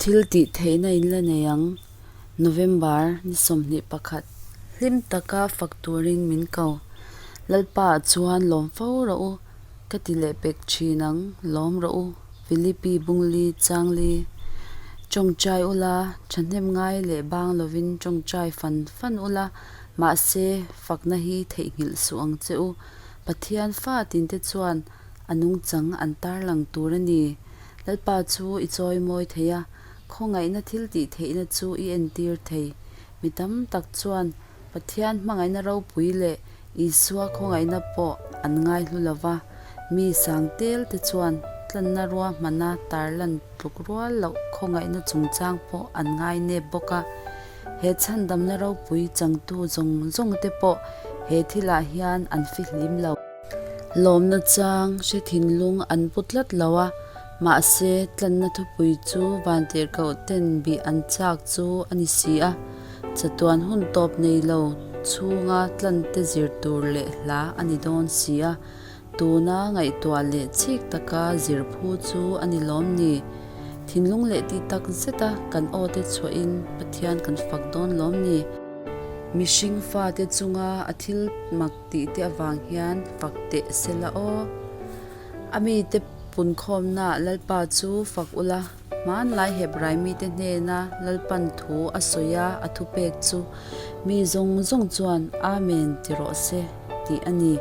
Thil tih theihna in la nei ang. November ni sawmhnih pakhat hlim taka fak turin min ko. Lalpaah chuan lawm fo rawh u, ka ti leh pek thin ang, lawm rawh u, Filipi bung li chang li, tawngtai u la, thahnem ngai leh bang lovin tawngtai fan fan u la, mahse fakna hi theihnghilh suh ang che u. Pathian fa tinte chuan. a nungchang an tarlang tur a ni. Lalpa chu i chawi mawi thei a, khawngaihna thiltih theihna chu i entir thei. Mi tam tak chuan Pathian hmangaihna ropui leh Isua khawngaihna pawh an ngai hlu lo va, mi sang tel te chuan tlanna rua hmana tarlan tluk rual loh khawngaihna chungchang pawh an ngai nep bawk a. He chhandamna ropui changtu zawng zawng te pawh he thilah hian an fihlim lo. Lawmna chang hre thinlung an pu tlat lo a, mahse tlanna thupui chu van tirhkoh ten bih an chak chu a ni si a, chatuan hun tawp nei lo chhunga tlante zir tur leh hla a ni dawn si a, tuna ngaihtuah leh chhik taka zir phu chu a ni lawm ni? Thinlung leh ti tak zeta kan aw te chhuahin Pathian kan fak dawn lawm ni? Mihring fate chunga a thil mak tih te avang hian fak teh se la aw. A mite pun khawmnaah Lalpa chu fak ula, hmanlai hep Raimite hnena Lalpan thu a sawi a, a thu pek chu, Mi zawng zawng chuan Amen ti rawh se tih a ni.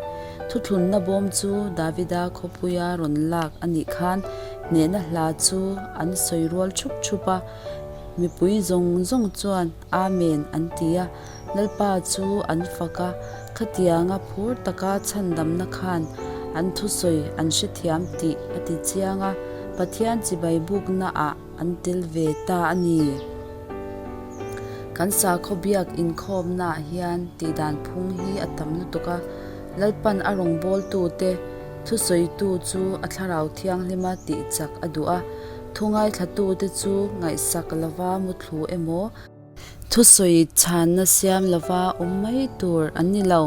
Thuthlunna bawm chu Davida khawpuia rawn lak a nih khan hnehna hla chu an sawi rual thup thup a, mipui zawng zawng chuan, Amen an ti a, Lalpa chu an fak a, khatianga phur taka chhandamna khan an thusawi an hre thiam tih a ti chiang a, Pathian chibai bukna ah an tel ve ta a ni. Kan sakhaw biak inkhawmna ah hian tihdan phung hi a tam lutuk a, Lalpan a rawngbawltu te thusawitu chu a thlarau thianghlim a tihchak a duh a, thungaithlatu te chu ngaihsak lova mutlu, thu emaw thusawi chhanna siam lova awm mai tur an ni lo.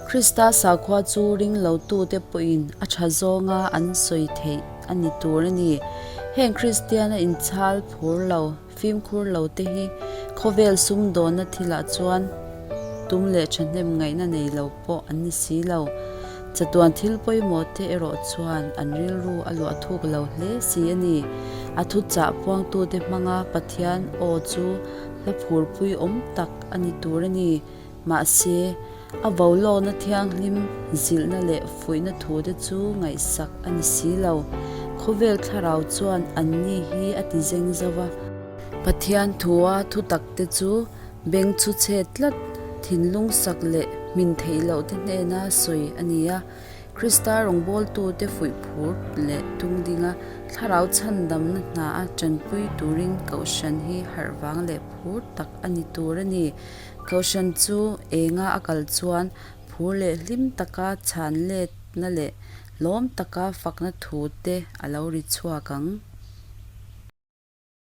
Krista sakhua chu ring lotute pawhin a tha zawnga an sawi theih a ni tur a ni. Heng Kristiana inchhal phur lo, fimkhur lote hi khawvel sumdawnna thilah chuan tum leh thahnem ngaihna nei lo pawh an ni si lo. Chatuan thil pawimawh te erawh chuan an rilru a luah thuk lo hle si a ni. A thu chah puangtu te hmanga Pathian aw chu hla phurpui awm tak a ni tur a ni. Mahse, a vo lawkna thianghlim zilhna leh fuihna thu te chu ngaihsak a ni si lo. Khawvel thlarau chuan anni hi a ti zeng zauh a. Pathian thu a thutak te chu Beng chu chhe tlat thinlung sak leh hmin theih loh te hnena sawi a ni a. Krista rawngbawltu te fuih phur leh tum dinga thlarau chhan damna hna a tanpui turin Kohhran hi harh vang leh phur tak a ni tur a ni. Kohhran chu enga a kal chuan phur leh hlim taka chhan letna leh lawm taka fakna thu te a lo ri chhuak ang.